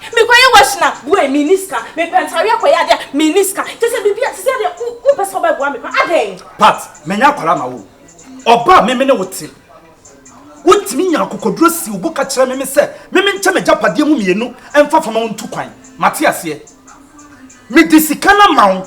Mekɔyɛ wash na woi menni sika, mepɛ ntareɛ kɔyɛ adeɛ a menni sika, kyerɛ sɛ biribi a seesei deɛ wompɛ sɛ wobɛboa me koraa, adɛn? Pat, manya akwadaa ma wo. Ɔba a me me ne wo te. Wotumi nya akokoduro si wo bo ka kyerɛ me me sɛ me menkyɛ m'agyapadeɛ mu mmienu mfa fa ma wo ntu kwan. Mate aseɛ. Mede sika no ama wo.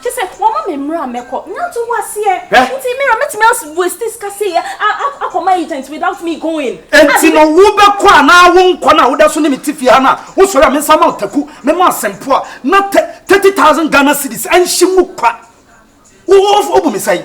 Kyɛ sɛ wɔma me mmerɛ a mɛkɔ. Nanto wo aseɛ. Hwɛ! Nti Mira mɛtumi as waste sika sei a akɔ ma agent without me going? Enti no wo bɛkɔ anaa wo nkɔ no a woda so ne me te fie ha no a wo sɔre a me nsa ma wo taku me ma asɛmpo a na thirty thousand Ghana cedis ɛnhye mu kwa wo wo bu me sɛn?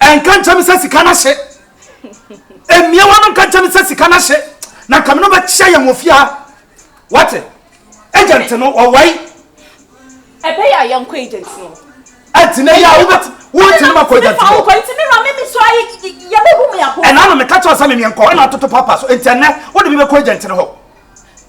ɛnka nkyɛn mi sɛ sika no ahye mmeawa no nka nkyɛn mi sɛ sika no ahye na kame no bɛkyia yɛn wɔ fie ha wate agent no ɔwae ɛbɛyɛ a yɛnkɔ agent no ɛnti na yɛ a wobɛte wonti no makɔ agent no nti me wura me me so ayɛ yɛbɛbu me abo ɛna no meka kyɛw sɛ memeɛ nkɔ ɛna atoto papa so ɛnti ɛnɛ wode bi bɛkɔ agent no hɔ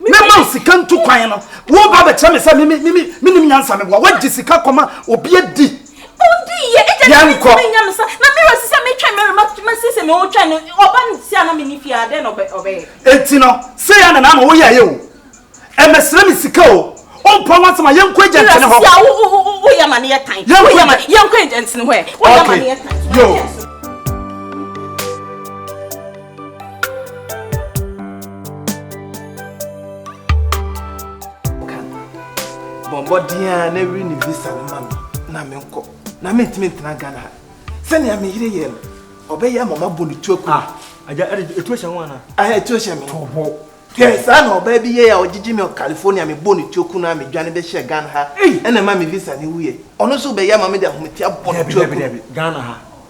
mɛma wo sika ntu kwan no woba bɛkyerɛ me sɛ menim nyansa meboa woagye sika kɔma obi adi yɛnkɔ enti no sɛ yɛ na naama woyɛyɛ o ɛmɛsrɛ me sika o ɔmpa ho asɛm a yɛnkɔ agyantene hɔ yɛnkɔ agyantene hɔ bɔmmɔden a na ɛwiri ne visa no ma me na menkɔ na mentumi ntena ghana ha sɛnea me yere yɛ no ɔbɛyɛ ama mabɔ ne tu aku agya ɛtu ahyɛ ho ana ɛtu ahyɛ me ho hwɛ saa na ɔbaa bi yɛ a ɔgyegye me california mebɔ ne tu aku no a medwane bɛhyɛ ghana ha ɛna ma me visa ne wuyɛ ɔno nso bɛyɛ ama mede ahometia bɔ ne tu aku ghana ha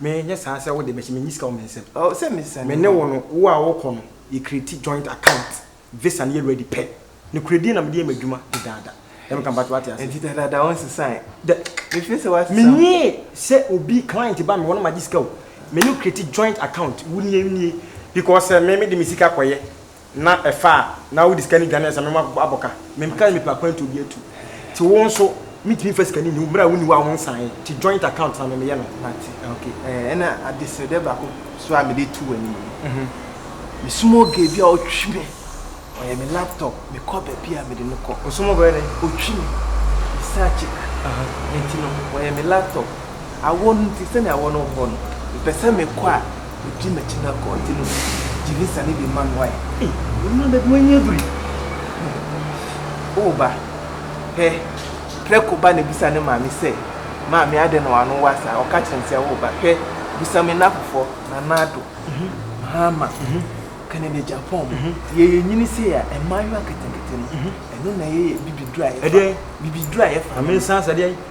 Me nyɛ saa sɛ wode bɛhyɛ me nyi sika wɔ me nsam oh sɛ me sɛ me ne wo no wo a wokɔ no yɛ create joint account visa no yɛ ready pɛ no korɛ din na mede yɛ m'adwuma dedaada na me ka mpakyɛ wate ase ɛnti dedaada wo nsesae dɛ me feel sɛ wate sɛ me nyɛ sɛ obi client ba me hɔ na magye sika o me ne wo create joint account wo nie me nie because sɛ me mede me sika kɔyɛ na ɛfa a na wode sika no dwane ansa mema abɔ ka. Mempɛ sɛ mepɛ akwantuo bi atu. Nti wo nso mentumi mfa sika no nni wo berɛ a wonni hɔ a wonsaeɛ nti joint account na memeyɛ no. Mate, ok. Ɛna adesrɛdeɛ baako nso a mede to w'anim no, me small girl bi a ɔtwe me, ɔyɛ me laptop, mekɔ baabi a mede no kɔ. Wo small girl yɛ dɛn? Ɔtwe me, me side chick, nti no ɔyɛ me laptop. Awɔ no nti, sɛnea awɔ no wɔ hɔ no, mepɛ sɛ mekɔ a, wodi m'akyi na kɔɔte no mu gye ne sane de ma no. Ei, ɔno ada bi wanya biri. O ba, hwɛ, prɛko ba no bisa ne maame sɛ, Maame, adɛn na w'ano wa saa? Ɔka kyerɛ no sɛ, O ba, hwɛ, bisa me nnamfofoɔ, Nanado, Maama, Kennedy Agyapong, nti yɛyɛ nyini sei a, mmaayewa nketenkete no, ɛno na ɛyɛ yɛn bibiduro a yɛfa. Ɛdeɛn? Bibiduro a yɛfa. Maame nsa asa deɛn?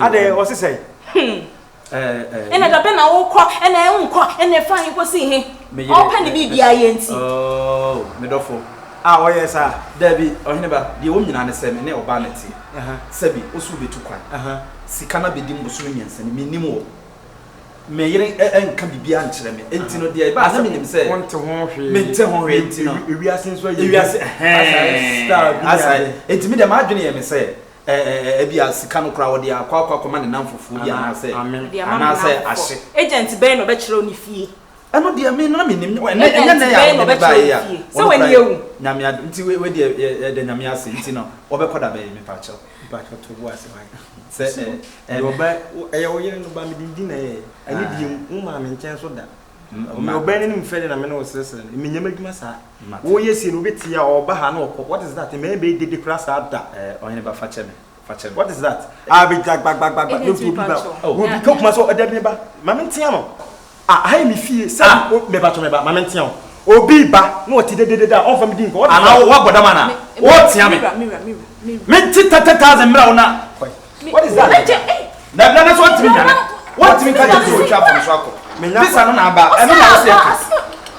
adɛn ɔse sɛn hmm. ɛna da bɛ na wokɔ ɛna wonkɔ ɛna ɛfa he kɔsi he ɔpɛ ne biribia yɛ nti oh, medɔfo a ɔyɛ saa daabi ɔhene ba deɛ wɔm nyinaa ne sɛ me ne ɔbaa no te sɛbi ɔso bɛtu kwan sika no bɛdi mbosome mmiɛnsa ne mennim wɔ Me yere nka biribiara nkyerɛ me, enti no deɛ ɛbaa sɛ menim sɛ mente ho hwee nti no, ewiase nso ayɛ ewiase ɛhɛn, asae, enti me deɛ m'adwene yɛ me sɛ ɛbi a sika no koraa ɔde akɔ akɔ akɔma ne namfofoɔ bi anaasɛ anaasɛ ahye. Agent bɛn na ɔbɛkyerɛ wo ne fie? Ɛno deɛ me na menim, ɛnyɛ ɛnɛ yɛ a wode me baeɛ yi a, ɔno koraa Nyame adom nti wei deɛ yɛda Nyame ase, nti no wɔbɛkɔ da bɛn mepakyɛw? Mpakyɛw to bo ase hwan? Sɛ ɛ ɛɛ. Ɔbɛ ɛyɛ wo yere no ba me dindin na ɛyɛ ɛne deɛ mu wo maa me nkyɛn nso da ɔmɛ ɔbɛ no nim fɛdeɛ na me ne wo sresre no menyɛ m'adwuma saa wo yɛ sie no obi te a ɔba ha na ɔkɔ what is that mɛyɛ bɛyɛ dede koraa saa da ɛɛ ɔhene ba fakyɛ me fakyɛ me what is that aa bɛgya gbagbagba ne mpo obi ba obi kɛ kuma so ɔdabi me ba ma me ntea no. Ah aha yɛ me fie sɛ ah o me pakyɛ me ba ma me ntea wo obi ba na ɔte dededede a ɔnfa me di nkɔ ana wo abɔ dam ana me o tea me me nte thirty thousand mmerɛ wo na kɔe what is that na na na so ɔntimi nyane wɔntimi nka deɛ sɛ ɔtwa fam so akɔ bisa no na aba ɛno na wo sɛ ɛka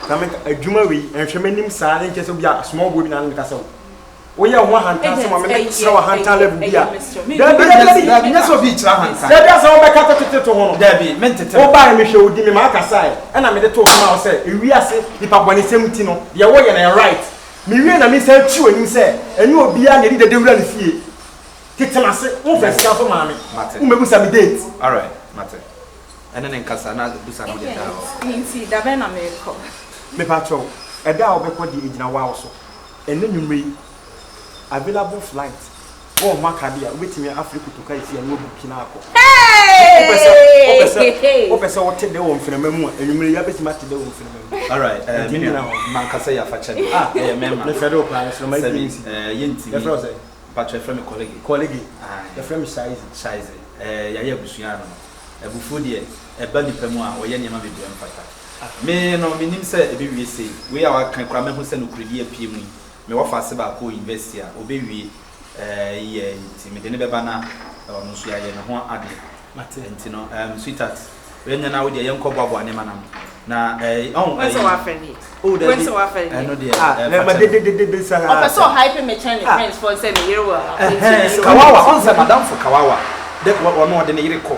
na me adwuma wei nhwɛ m'anim saa ne nkyɛ sɛ obi a asoma ɔboɔ bi na ano meka sɛ wo. Woyɛ wo ho ahantan sɛ ma me mesra w'ahantan level bi a. Dabi dabi dabi. Dabi nyɛ sɛ obi kyerɛ ahantan. Dabi asɛ wobɛka teteteto ho no. Dabi mentete ho. Wobae mehwɛ wo din me maa kasae ɛna mede too so maa wo sɛ ewiase nipa bɔne sɛm nti no deɛ woyɛ no ɛyɛ right. Mewie na mesan twi w'anim sɛ ɛnyɛ obiara na yɛde dede wura ne fie. Tete m'ase. Womfa sika nso maa me. Mate. Wommɛbusa me date. Alright mate. Ɛne no nkasa na busa no deɛ da a ɔbɛkɔ. Enti da bɛn na merekɔ? Mepa kyɛw ɛda a wobɛkɔ deɛ ɛgyina wow so. Ɛnnɛ anwummere yi, available flight wɔ wɔn akadeɛ a wobɛtumi afrɛ kutuka esi ani wabuki na akɔ. Wopɛ sɛ wopɛ sɛ wopɛ sɛ wote dɛ wɔ mframa mu a, anwummere yi abɛtumi ate dɛ wɔ mframa mu. Alright, eh, me nua, mankasa yɛ afakyɛde. Ah, ɛyɛ mɛma. Mefɛ de wo paa, mframa yi bi nsi. Eh, yɛntumi. Yɛfrɛ wo sɛ? Mpakyɛ, yɛfrɛ me Kɔlege. Kɔlege? Aye. Yɛfrɛ me Shaize. Shaize, eh, yɛayɛ abusua ano no, abufuo deɛ, ɛba nnipa mu a, wɔyɛ nneɛma bebree a ɛmfata. Me no, mennim sɛ ɛbɛwie sei. Wei a waka yi koraa mahu sɛ nokorɛdie apue mu yi. Me wɔfase baako wɔ university a ɔbɛwie ɛɛ year yi nti mede no bɛba na ɔno nso yɛayɛ ne ho adeɛ. Mate. Nti no ɛɛm sweetheart wɛnyɛ na wodeɛ yɛnkɔ boaboa nneɛma no ano na ɛɛ ɔho ɛyi. Wɛn sɛ wafɛ ne yɛ. Oh dabi. Wɛn sɛ wafɛ ne yɛ. Ɛno deɛ ah, ɛɛ fakyɛ. Ah, dededede saa sɛ. Ɔpɛ sɛ ɔhype me kyɛn ne friends foɔ nsɛ me yere wɔ ha. Ɛhɛɛn, kawawa, ɔnsɛ madamfo kawawa dɛ ɔno ɔde ne yere kɔ.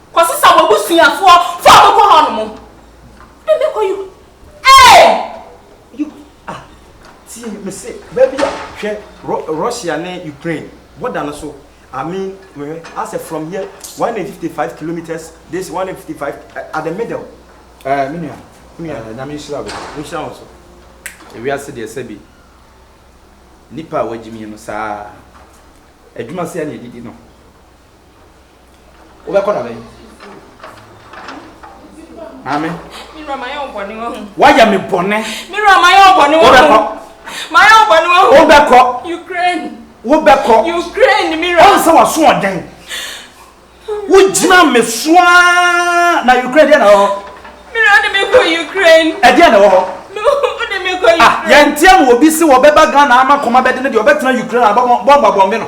Kɔsi sa w'abusuafoɔ fo a wɔkɔ hɔ nom. Wode me kɔ you. Ee! You. Ah, tie me se, baabi a, hwɛ, Ro, Russia ne Ukraine, border no so. I mean, mehwɛ, asɛ from here, 155 kilometres, this 155, at the middle. Eh, me nua. Me nua. Eh, Nyame nhyira wo. Nhyira wo nso. Ewiase deɛ sɛbi, nipa a wagyimie no saa. Adwuma sɛa na yɛdidi no. wobɛkɔ na bɛn maame wayɛ me bɔne wobɛkɔ wobɛkɔ wobɛkɔ ɔn sɛ waso ɔdɛn wogyina me soaa na ukraine deɛ na wɔ ɛdeɛ na wɔ hɔ yɛnteɛ ma obi se wɔbɛba ghana ama kɔma bɛde no deɛ ɔbɛtena ukraine abɔmmɔbɔmbe no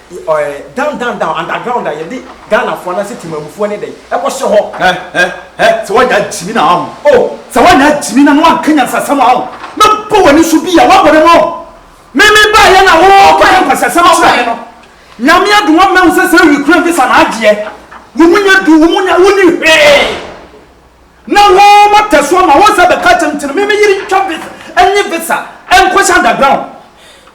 Ɔɛ down down down underground a yɛde Ghana foɔ anaasɛ Temanmufoɔ ne dɛn ɛkɔ hyɛ hɔ. Hɛ hɛ hɛ sɛ wanya gyimi na waho oh sɛ wanya gyimi na na wanka nyansasɛm a oh mɛ bɔ wani so bi a wabɔ ne ho oh me me ba yɛ na wo kɔ yɛ nkwasiasɛm kyerɛ me no Nyame adum wo mɛ hu sɛ sɛ Ukraine visa na agyeɛ wo mu nya du wo mu nya wo ni hwee na wo mo tɛ so ama wo sɛ bɛka kyɛm ti no me me yiri ntwa visa ɛnye visa ɛnkɔ hyɛ underground.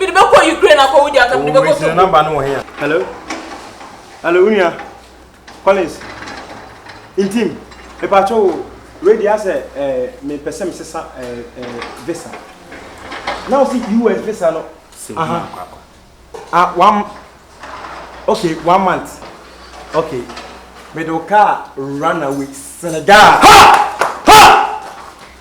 Mede bɛkɔ Ukraine akɔ wodi aka mede bɛkɔ so. Namba no wɔ he a? Hello. Hello unia. Collins. Intim. Mepacho wo. Ready asɛ eh me pɛsɛ me sesa eh eh visa. Now see US visa no. Aha. Ah one Okay, one month. Okay. Me do car run away Senegal. Ha! Ha!